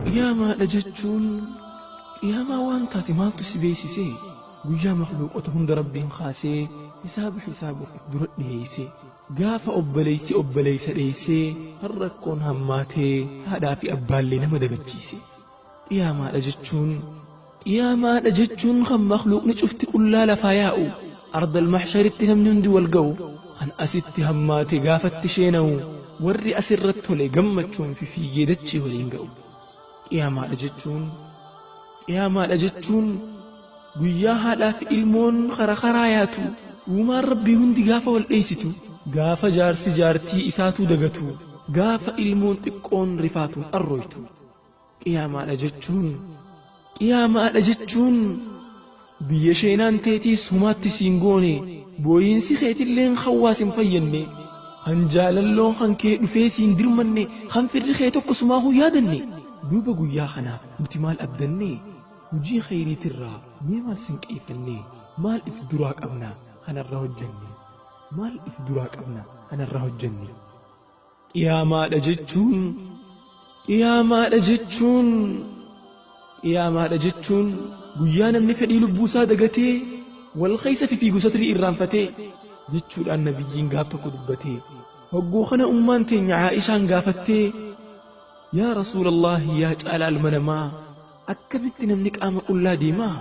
Qiyaamaadha jechuun qiyaamaa waan taate maaltu si beeksise guyyaa makluuqota hunda rabbiin kaasee hisaaba hisaabuuf dura dhiheeyse gaafa obboleeysi obboleeysa dheeysee kan rakkoon hammaatee haadhaa fi abbaallee nama dagachiise Qiyaamaadha jechuun Qiyaamaadha jechuun kan makluuqni cufti qullaa lafaa yaa'u ardal mahsharitti namni hundi wal ga'u kan asitti hammaate gaafatti sheenawu warri asirra tole gammachuun fi fiigee dachii waliin ga'u qiyaamaadha jechuun qiyaamaadha jechuun guyyaa haadhaa fi ilmoon kara karaa yaatu uumaan rabbii hundi gaafa wal dheeysitu gaafa jaarsi jaartii isaatuu dagatu gaafa ilmoon xiqqoon rifaatuun arrooytu Qiyaamaadha jechuun Qiyaamaadha jechuun biyya sheenaan teetiis humaatti siin goone booyiinsi keetilleen kan waa sin fayyanne kan jaalalloon kan kee dhufee siin dirmanne kan firri kee tokko sumaa kun yaadanne duuba guyyaa kanaaf nuti maal abdanne hujii kheyriitirraa mee maal sin qeeffanne maal if duraa qabna kanarra hojjanne maal if duraa qabna kanarra hojjanne Dhiyaamaadha jechuun Dhiyaamaadha jechuun Dhiyaamaadha jechuun guyyaa namni fedhii lubbuu isaa dagatee wal keessa fifiigu satrii irraanfatee jechuudhaan nabiyyiin gaaf tokko dubbatee hogguu kana ummaan teenya Aa'ishaan gaafattee yaa rasuulallaahi yaa caalaa ilma namaa akkamitti namni qaama qullaa deemaa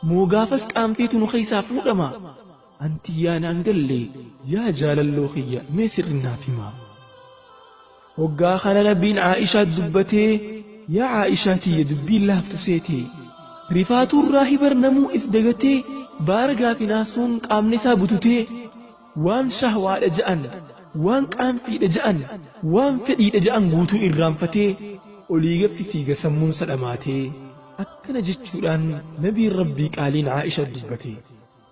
moo gaafas qaamteetu nu keessaa fuudhama An tiyyaa naan galle yaa jaalalloo kiyya mee sirri naaf himaa. Hoggaa kana Rabbiin Aa'ishaa dubbatee yaa Aa'ishaa tiyya dubbiin laaftu seetee. Rifaatuu irraa hibar namuu if dagatee baaragaa fi naasuun qaamni isaa bututee waan shahwaadha ja'an waan qaanfiidha ja'an waan fedhiidha ja'an guutuu irraanfatee olii gaffi fiiga sammuun sadhamaatee akkana jechuudhaan nabiin rabbii qaaliin Aa'ishaa dubbatee.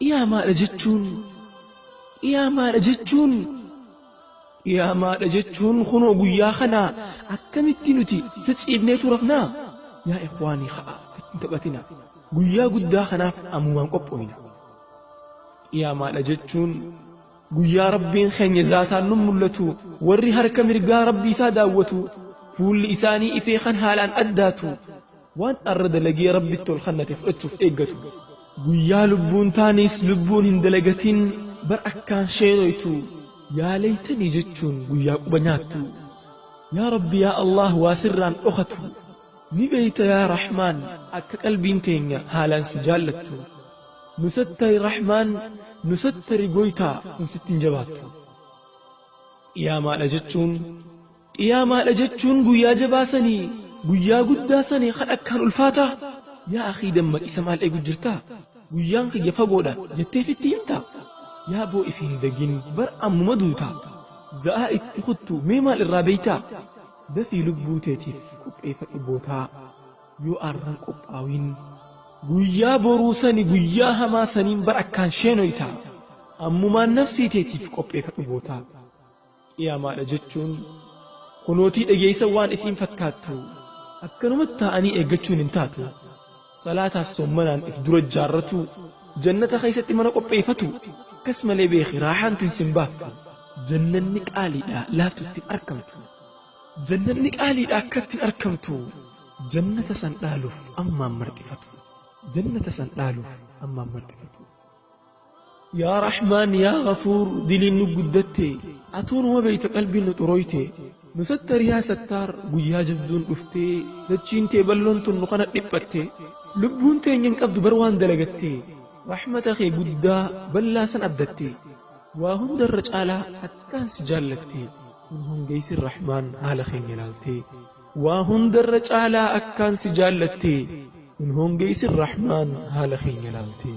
Dhiyaamaadha jechuun dhiyaamaadha jechuun dhiyaamaadha jechuun kunoo guyyaa kana akkamitti nuti isa ciifneetu rafnaa yaa ikwaanii ha'a ittiin taphatina guyyaa guddaa kanaaf ammumaan qopho'ina dhiyaamaadha jechuun guyyaa rabbiin keenya zaataan nun mul'atu warri harka mirgaa rabbii isaa daawwatu fuulli isaanii ifee kan haalaan addaatu Waan arra dalagee Rabbitti ol kannate fudhachuuf eeggatu. Guyyaa lubbuun taanis lubbuun hin dalagatin bar akkaan sheenoytu yaa leeytanii jechuun guyyaa quba nyaattu. Yaa Rabbi yaa Allaah waa sirraan dhokatu. Ni beeyta yaa Rahmaan akka qalbiin teenya haalaan si jaallattu. Nu sattari Rahmaan nu sattari goytaa tun sitti hin jabaattu. Qiyaamaadha jechuun Qiyaamaadha jechuun guyyaa jabaa sani, guyyaa guddaa sani kan akkaan ulfaataa? Yaa akhii dammaqisa maal eegu jirtaa? Guyyaan kiyya fagoodha jettee fitti himtaa? Yaa boo if hin dagin bar ammuma duutaa. Za'aa itti kuttu mee maal irraa beeytaa? Dafii lubbuu teetiif qopheeyfadhu bootaa. Yoo arran qophaawiin guyyaa boruu sani guyyaa hamaa saniin bar akkaan sheenoytaa. Ammumaan nafsii teetiif qopheeyfadhu bootaa. Qiyaamaadha jechuun kunootii dhageessa waan isiin fakkaattu akkanumatti taa'anii eeggachuun hin taatu. Salaataaf sommanaan if dura jaarratu jannata keessatti mana qopheeffatu akkas malee beeki raahaan tun sin baaftu. Jannanni qaaliidha laaftu ittiin arkamtu. Jannanni qaaliidha akka ittiin arkamtu jannata san dhaaluuf ammaan marxifatu. Jannata san dhaaluuf ammaan marxifatu. Yaa Rahmaan yaa Gafuur diliin nu guddatte atuu numa beeyta qalbiin nu xurooyte nu sattari yaa sattaar guyyaa jabduun dhuftee dachiin tee balloon tun nu kana dhiphatte lubbuun teenya hin qabdu bar waan dalagatte rahmata kee guddaa ballaa san abdatte waa hundarra caalaa akkaan si jaallatte kun hongeeysin Rahmaan haala keenya ilaaltee Waa hundarra caalaa akkaan si jaallattee hin hoongeysin Rahmaan haala keenya laaltee.